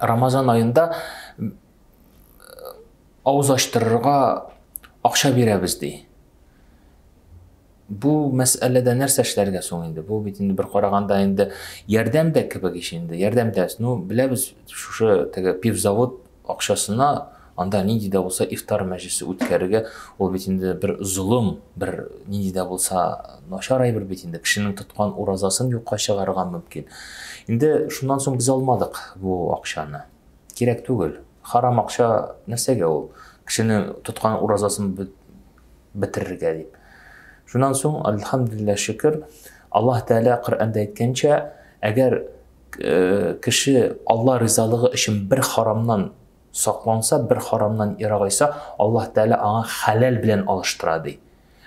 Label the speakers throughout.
Speaker 1: Рамазан аенда авыз ачтырырга акча бирәбез ди. Бу мәсьәләдә нәрсә эшләргә соң инде? Бу бит инде бер караганда инде ярдәм дә кебек ич инде. Ярдәм дә, ну, беләбез, шушы теге пивзавод акчасына Анда нинди дә булса ифтар мәҗлесе үткәрергә, ул бит инде бер золым, бер нинди дә булса начар әйбер бит инде. Кешенең тоткан уразасын юкка чыгарырга мөмкин. Инде шуннан соң без алмадык бу акчаны. Кирәк түгел. Харам акча нәрсәгә ул? Кешене тоткан уразасын бетерергә дип. Шуннан соң, альхамдулилла шөкер, Аллаһ Тәгалә Коръәндә әйткәнчә, әгәр э, кеше Алла ризалыгы өчен бер харамнан Сакланса, бер харамнан ерагайса, Аллаһ Тәгалә аңа хәләл белән алыштыра, ди.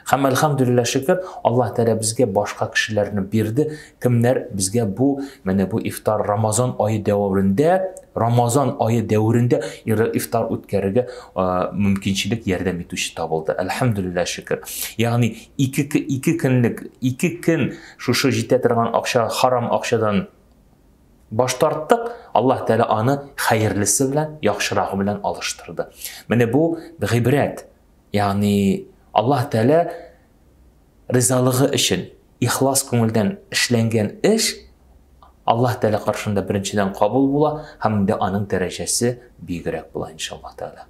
Speaker 1: Һәм әлхәмдүлилләһ шөкер, Аллаһ Тәгалә безгә башка кешеләрне бирде, кемнәр безгә бу, менә бу ифтар Рамазан ае дәврендә, Рамазан ае дәврендә ифтар үткәрергә мөмкинчелек ярдәм итүче табылды. Әлхәмдүлилләһ шөкер. Ягъни ике ике көнлек, ике көн шушы җитә торган акча, харам акчадан Баш тарттык, Аллаһ Тәгалә аны хәерлесе белән, яхшырагы белән алыштырды. Менә бу гыйбрәт. Ягъни Аллаһ Тәгалә ризалыгы өчен ихлас күңелдән эшләнгән эш Аллаһ Тәгалә каршында беренчедән кабул була һәм инде аның дәрәҗәсе бигрәк була иншаллаһ Тәгалә.